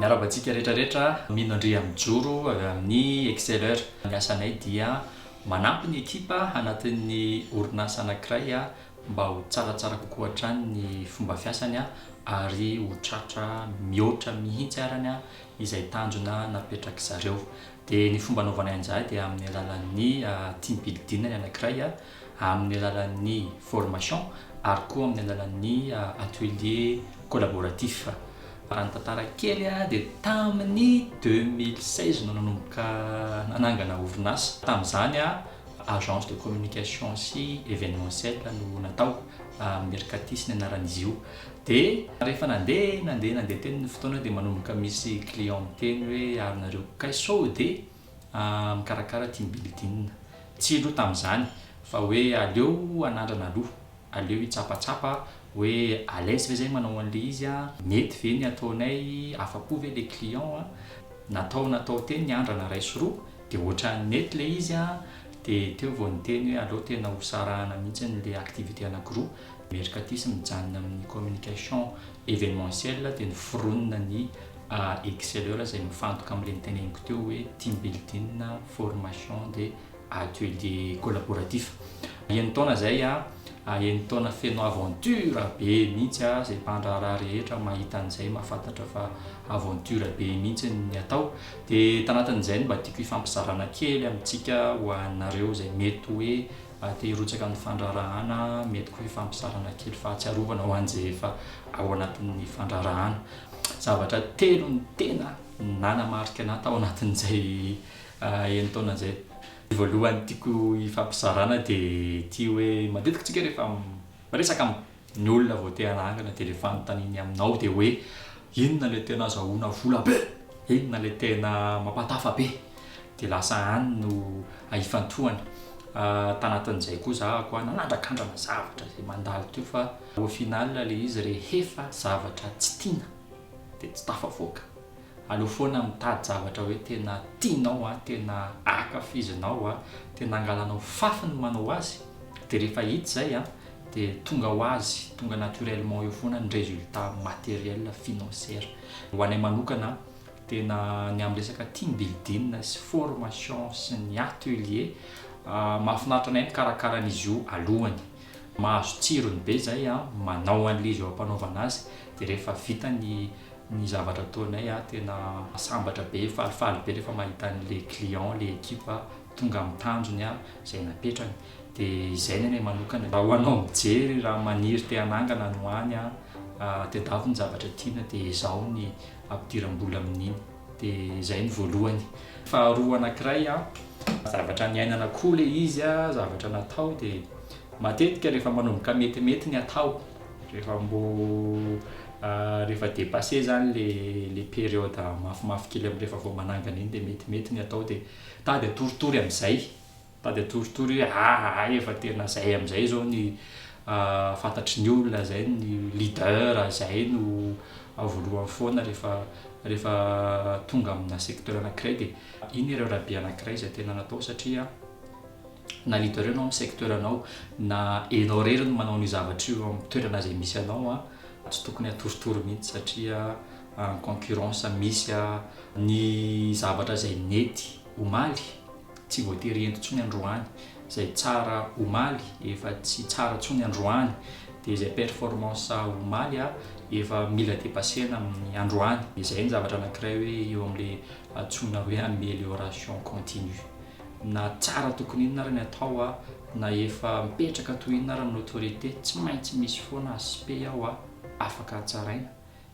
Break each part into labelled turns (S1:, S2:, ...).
S1: Miarahaba antsika rehetra rehetra, mino Andria mijoro avy amin'ny Exceler. Ny asanay dia manampy ny ekipa anatin'ny orinasa anankiray mba ho tsaratsara kokoa hatrany ny fomba fiasany ary ho tratra mihoatra mihitsy arany izay tanjona napetrak'izareo. Dia ny fomba anaovanay an'izay dia amin'ny alalan'ny team building ny anankiray. amin'ny alalan'ny formation ary koa amin'ny alalan'ny atelier collaboratif. Raha ny tantara kely dia tamin'ny deux mille seize no nanomboka nanangana orinasa. Tamin'izany agence de communication sy evenementiel no natao, Mercatis ny anaran'izy io. Dia rehefa nandeha nandeha nandeha teny ny fotoana dia manomboka misy client miteny hoe ary nareo kay sao dia mikarakara team building. Tsy aloha tamin'izany fa hoe aleo anandrana aloha, aleo hitsapatsapa hoe à l'aise ve zahay manao an'ilay izy a, mety ve ny ataonay, afa-po ve ilay client a, natao natao teo ny andrana iray sy roa dia ohatran'ny nety ilay izy a, dia teo vao niteny hoe aleo tena hosarahana mihitsy ilay activité anankiroa, mercatus mijanona amin'ny communication événementielle dia noforonina ny a exceleur izay mifantoka amin'ireny teneniko teo hoe team building, formation dia atelier collaboratif. Enin-taona izay a, enin-taona feno aventure be mihitsy a, izay mpandraharaha rehetra mahita an'izay mahafantatra fa aventure be mihitsy ny atao. Dia tanatin'izay no mba tiako hifampizarana kely amintsika ho anareo izay mety hoe Ary te hirotsaka amin'ny fandraharahana, mety koa hifampizarana kely fahatsiarovana ho an'izay efa ao anatin'ny fandraharahana. Zavatra telo no tena nanamarika anà tao anatin'izay enin-taona izay. Ny voalohany tiako hifampizarana dia ity hoe matetika tsika rehefa miresaka Ny olona vao te hanangana dia le fanontaniany aminao dia hoe inona le tena azahoana vola be? Inona le tena mampatafa be? Dia lasa any no ifantohana. Tanatin'izay koa za koa nanandrakandrana zavatra izay mandalo teo fa au final le izy rehefa zavatra tsy tiana dia tsy tafavoaka. Aleo foana mitady zavatra hoe tena tianao a, tena akafizinao a, tena angalanao fafy ny manao azy, dia rehefa hita izay a, dia tonga ho azy, tonga naturellement eo foana ny résultat matériel financière. Ho anay manokana tena ny amin'ny resaka team building sy formation sy ny atelier, mahafinaritra anay mikarakara an'izy io alohany, mahazo tsirony be izay a, manao an'ilay izy eo ampanaovana azy, Dia rehefa vita ny ny zavatra ataonay a, tena sambatra be, falifaly be rehefa mahita an'ilay client, ilay ekipa tonga amin'ny tanjony a, izay napetrany. Dia izay ny anay manokana. Raha ho anao mijery, raha maniry te hanangana any ho any a, tadiavo ny zavatra tiana dia ezaho ny ampidiram-bola amin'iny. Dia izay ny voalohany. Faharoa anankiray a, zavatra niainana koa ilay izy a, zavatra natao dia matetika rehefa manomboka metimety ny atao, Rehefa mbo rehefa depasser zany le le période mafimafy kely am rehefa vao manangana iny de metimety ny atao de tady atoritory amzay tady atoritory hoe aa efa tena zay amzay zao ny fantatry ny olona zay ny leader zay no voalohany foana rehefa rehefa tonga amina secteur anakiray de iny ireo rahabe anakiray zay tena natao satria na leader enao amin'ny secteur anao na enao rery no manao an'io zavatra io amin'ny toerana izay misy anao a tsy tokony atoritory mihitsy satria en concurrence misy a ny zavatra izay nety omaly tsy voatery ento tsony androany izay tsara omaly efa tsy tsara tsony androany dia izay performance omaly a efa mila depasena amin'ny androany izay ny zavatra anankiray hoe eo amin'le atsona hoe amélioration continue na tsara tokony inona ary ny atao a, na efa mipetraka toy inona ary ny autorité, tsy maintsy misy foana aspect ao a, afaka hatsaraina,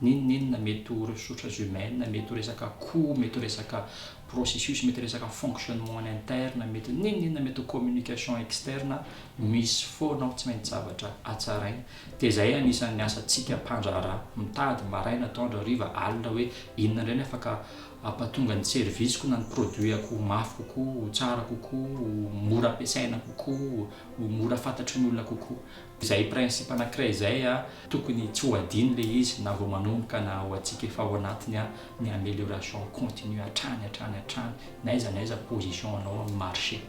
S1: n'inon'inona, mety ho ressources humaines, mety ho resaka coût, mety ho resaka processus, mety ho resaka fonctionnement en interne, mety ho n'inon'inona, mety ho communication externe, misy foana ao tsy maintsy zavatra hatsaraina, dia izay anisan'ny asantsika mpandraharaha, mitady maraina, atoandro, hariva, alina hoe inona indray ny afaka hampatonga ny service-ko na ny produit-ko ho mafy kokoa, ho tsara kokoa, ho mora ampiasaina kokoa, ho mora fantatry ny olona kokoa. Izay principe anankiray izay tokony tsy ho adino ilay izy na vao manomboka na ho antsika efa ao anatiny ny amélioration continue hatrany hatrany hatrany n'aiza n'aiza position anao amin'ny marché.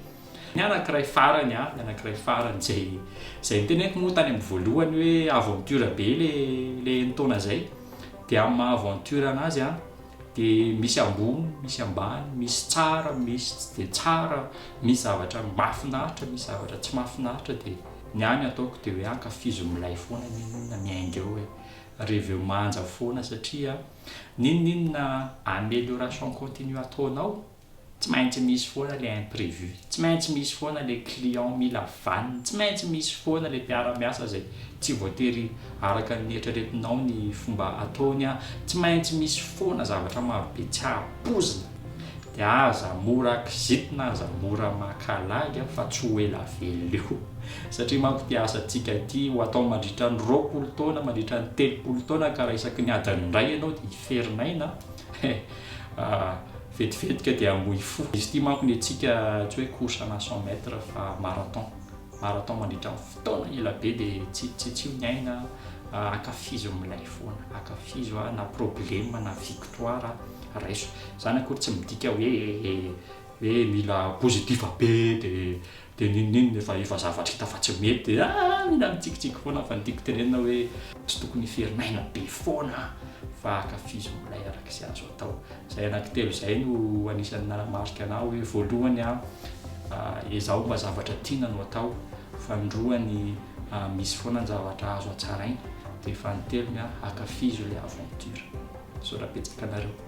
S1: Ny anankiray farany, ny anankiray farany izay izay noteneniko moa tany amin'ny voalohany hoe aventure be ilay ilay enin-taona izay dia amin'ny maha aventure an'azy dia misy ambony, misy ambany, misy tsara, misy tsy dia tsara, misy zavatra mahafinaritra, misy zavatra tsy mahafinaritra, dia ny ahy ny ataoko dia hoe ankafizo milay foana n'inon'inona miainga eo e, reveo manja foana satria n'inon'inona amélioration continue ataonao Tsy maintsy misy foana le imprévu, tsy maintsy misy foana le client mila vaniny, tsy maintsy misy foana le mpiara-miasa zay tsy voatery araka ny eritreretinao ny fomba ataony an, tsy maintsy misy foana zavatra maro be tsy ampoizina de aza mora kizitina, aza mora maka lagy an fa tsy ho ela velona eo satria manko ty asantsika ity ho atao mandritra ny roapolo taona, mandritra ny telopolo taona ka raha isaky ny adiny iray ianao de hiferin'aina an, he ah. Vetivetika dia hamboy fo. Izy ity manko ny antsika tsy hoe course ana cent mètres fa marathon. Marathon mandritra ny fotoana ela be dia tsy tsy tsy ny aina an, ankafizo ny milay foana, ankafizo an, na problème na victoire raiso. Izany akory tsy midika hoe hoe mila positif be dia Dia ninoninona efa efa zavatra hita fa tsy mety dia ah mila mitsikitsiky foana fa ny tiako tenenina hoe tsy tokony hiferin' aina be foana fa ankafizo milay araka izay azo atao. Izay anankitelo izay no anisan'ny nanamarika anah hoe voalohany an ezaho mba zavatra tiana no atao, faninroany an misy foana ny zavatra azo hatsaraina dia fanintelony an ankafizo ilay aventure. Misaotra betsaka anareo.